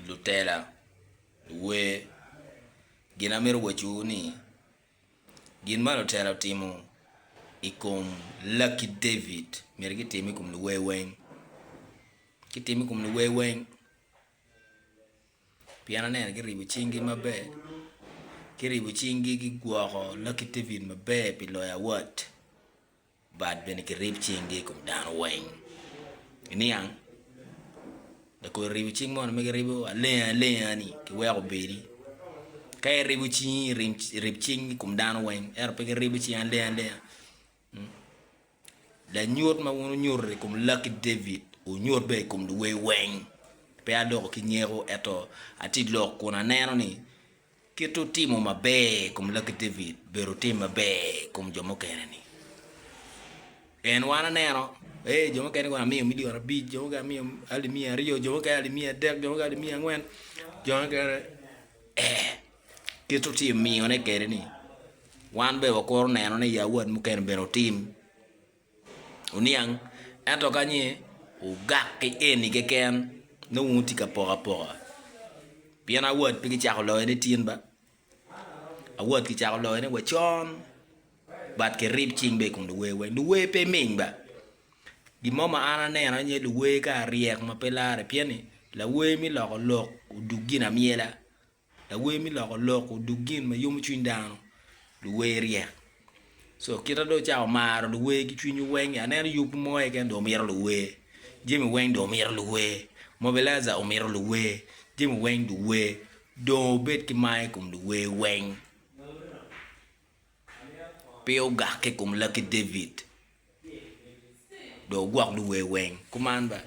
lutela, luwer. Gin amito wacowu ni, gin ma lutela otimo i kom lakki David myero gitim i kom luwer weng. Gitim i kom luwer weng pien aneno giribo cinggi maber, giribo cinggi gigwoko lakki David maber pi loyo award. Bad bene kirib cinggi i kom dano weng. Iniang, lakodo ribo cing mono ma giribo alenga alenga-ni kiweko obedi. Ka iribo cingi irim irib cing i kom dano weng ento pe giribo cingi alenga alenga. Mm. Lanyut ma wun wunyuto i kom lakki David wunyut bene i kom luwer weng. Pe aloko ki nyeko ento atye lok kun aneno ni Kit otimo maber i kom laggi David bedo otim maber i kom jo mukene ni. Pien wan aneno, ee, jo mukene kono amiyo milion abic, jo mukene amiyo alip miya aryo, jo mukene alip miya adek, jo mukene alip miya angwen, jo mukene, ee. Kit otim miyone kwede ni, wan bene wakuru neno ni ya wat mukene bene otim. Oniang, ento ka ni wugak ki eni keken, nongo wutye ka poko apoka. Pien awot pe kicako loyo ni tin ba, awot kicako loyo ni wa con, but kirib cing be i kom luwer weng. Luwer pe ming ba. Gin mo ma an aneno aye luwer ka ryek ma pe larre, pien ni lawer me loko lok odug ginamyela. Lawer me loko lok oduk gin ma yomo cwiny dano. Luwer ryek. So kita dong ocako maro luwer ki cwinywu weng-ngi. Aneno yub mo keken dong omito luwer. Jami weng dong omito luwer. Mobilizer omito luwer. Jami weng luwer. Dong wubed ki mar i kom luwer weng. Pe wugakke i kom Lucky David. Dong wugwok luwer weng. Kuman bene.